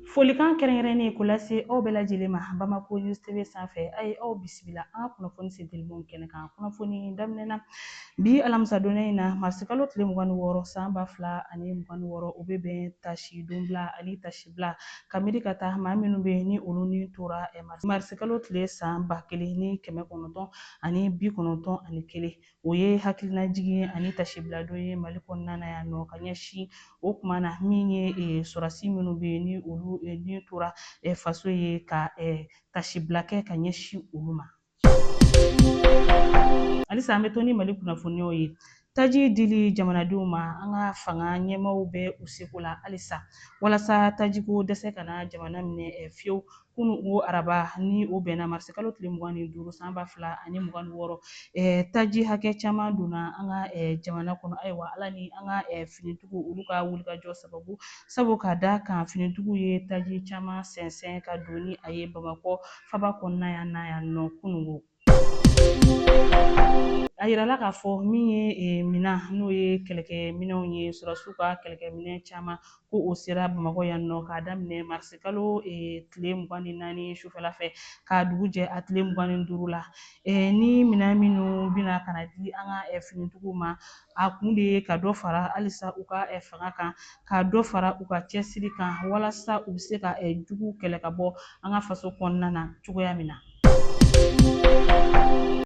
Folikan kɛrɛnkɛrɛnnen k'o lase aw bɛɛ lajɛlen ma Bamako News TV sanfɛ a ye aw bisimila an ka kunnafoni sentelimanw kɛnɛ kan. Kunnafoni daminɛ na bi alamisadonya in na marisikalo tile mugan ni wɔɔrɔ san ba fila ani mugan ni wɔɔrɔ o bɛ bɛn tasidonbila ani tasibila ka miiri ka taa maa minnu bɛ ni olu ni tora marisikalo tile san ba kelen ni kɛmɛ kɔnɔntɔn ani bi kɔnɔntɔn ani kelen o ye hakilinajigin ani tasibiladon ye mali kɔnɔna na yan nɔ ka ɲɛsin o kuma na min ye eh, sɔrɔdasi minnu bɛ yen ni olu eh, ni tora eh, faso ye ka tasibila kɛ ka ɲɛsin olu ma halisa an bɛ to ni mali kunnafoniyaw ye taji dili jamanadenw ma an ka fanga ɲɛmaaw bɛ u seko la halisa walasa tajiko dɛsɛ kana jamana minɛ fiyewu kunu o araba ni o bɛnna marisi kalo tile mugan ni duuru san ba fila ani mugan ni wɔɔrɔ taji hakɛ caman donna an ka jamana kɔnɔ ayiwa ala ni an ka finitigiw olu ka wulikajɔ sababu sabu ka da kan finitigiw ye taji caman sɛnsɛn ka don ni a ye bamakɔ faba kɔnɔna yan na yan nɔ kunun ko A yirala k'a fɔ min ye e, minan n'o ye kɛlɛkɛ minɛnw ye sɔrɔdasiw ka kɛlɛkɛ minɛn caman ko o sera bamakɔ yan nɔ k'a daminɛ marisi kalo e, tile mugan ni naani sufɛla fɛ k'a dugu jɛ a tile mugan ni duuru la e, ni minan minnu bɛna ka na di an ka e, finitigiw ma A kun de ye ka dɔ fara halisa u ka fanga kan, ka dɔ fara u ka cɛsiri kan walasa u bɛ se ka juguw kɛlɛ ka bɔ an ka faso kɔnɔna na cogoya min na.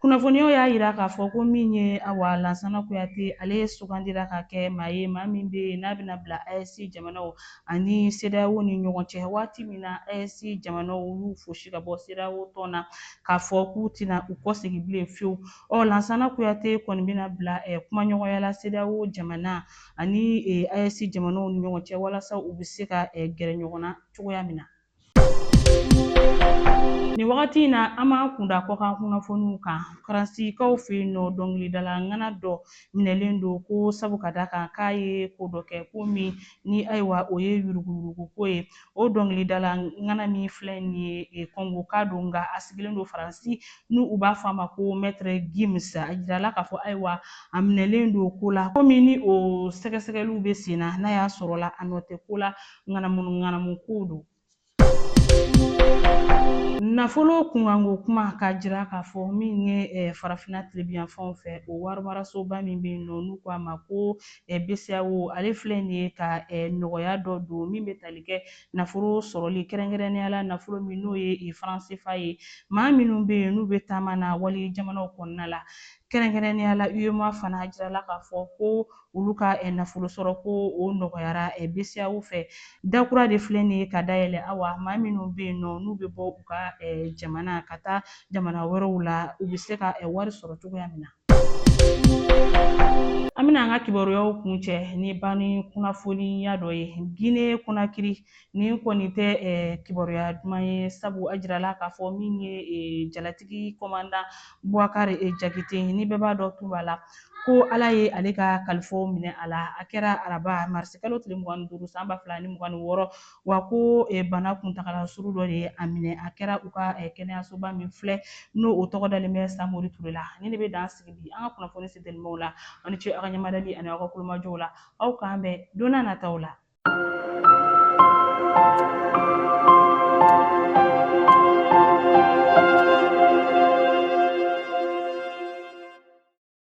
Kunnafoniyaw y'a yira k'a fɔ ko min ye awa Lansana Kuyate, ale sugandira ka kɛ maa ye maa min bɛ yen n'a bɛna bila AES jamanaw ani CEDEAO ni ɲɔgɔn cɛ waati min na AES jamanaw y'u fosi ka bɔ CEDEAO tɔn na k'a fɔ k'u tɛna u kɔsegin bilen fiyewu. Ɔ Lansana Kuyate kɔni bɛna bila eh, kumaɲɔgɔnya la CEDEAO jamana ani eh, AES jamanaw ni ɲɔgɔn cɛ walasa u bɛ se ka eh, gɛrɛ ɲɔgɔn na cogoya min na. Nin wagati in na, an b'an kun da kɔkan kunnafoniw kan. Faransikaw fɛ yen nɔ, dɔnkilidala ŋana dɔ minɛlen don ko sabu ka da kan k'a ye ko dɔ kɛ, ko min ni ayiwa o ye yuruguyuruguko ye. o dɔnkilidala ŋana min filɛ nin ye e, Kɔngoka don nka a sigilen don Faransi ni u b'a fɔ a ma ko Maître Gims. A jirala k'a fɔ ayiwa a minɛlen don ko la ko min ni o sɛgɛsɛgɛliw bɛ sen na n'a y'a sɔrɔla a nɔ tɛ ko la ŋanamuŋanamu kow don. Nafolo kunkanko kuma k'a jira k'a fɔ min ye Farafinna tilebinyanfanw fɛ o warimarasoba min bɛ yen nɔ n'u ko a ma ko BCEAO ale filɛ nin ye ka nɔgɔya dɔ don min bɛ tali kɛ nafolo sɔrɔli kɛrɛnkɛrɛnnenya la nafolo min n'o ye franc CFA ye maa minnu bɛ yen n'u bɛ taama na wali jamanaw kɔnɔna la kɛrɛnkɛrɛnnenya la UEMOA fana a jirala k'a fɔ ko olu ka nafolo sɔrɔ ko o nɔgɔyara BCEAO fɛ dakura de filɛ nin ye ka dayɛlɛ awa maa minnu bɛ yen nɔ n'u bɛ bɔ u ka jamana ka taa jamana wɛrɛw la u bɛ se ka wari sɔrɔ cogoya min na. An bɛna an ka kibaruyaw kuncɛ ni banni kunnafoniya dɔ ye Gine Konakiri nin kɔni tɛ kibaruya duman ye sabu a jirala k'a fɔ min ye jalatigi kɔmandan Bubakari Jakite ni bɛɛ b'a dɔn Tunba la ko Ala ye ale ka kalifaw minɛ a la a kɛra araba marisikalo tile mugan ni duuru san ba fila ni mugan ni wɔɔrɔ wa ko bana kuntagala surun dɔ de ye a minɛ a kɛra u ka kɛnɛyasoba min filɛ n'o o tɔgɔ dalen bɛ Samori Ture la nin de bɛ dan sigi bi an ka kunnafoni sentelimanw la aw ni ce aw ka ɲɛmadali ani aw ka kulomajɔw la aw k'an bɛn don na nataw la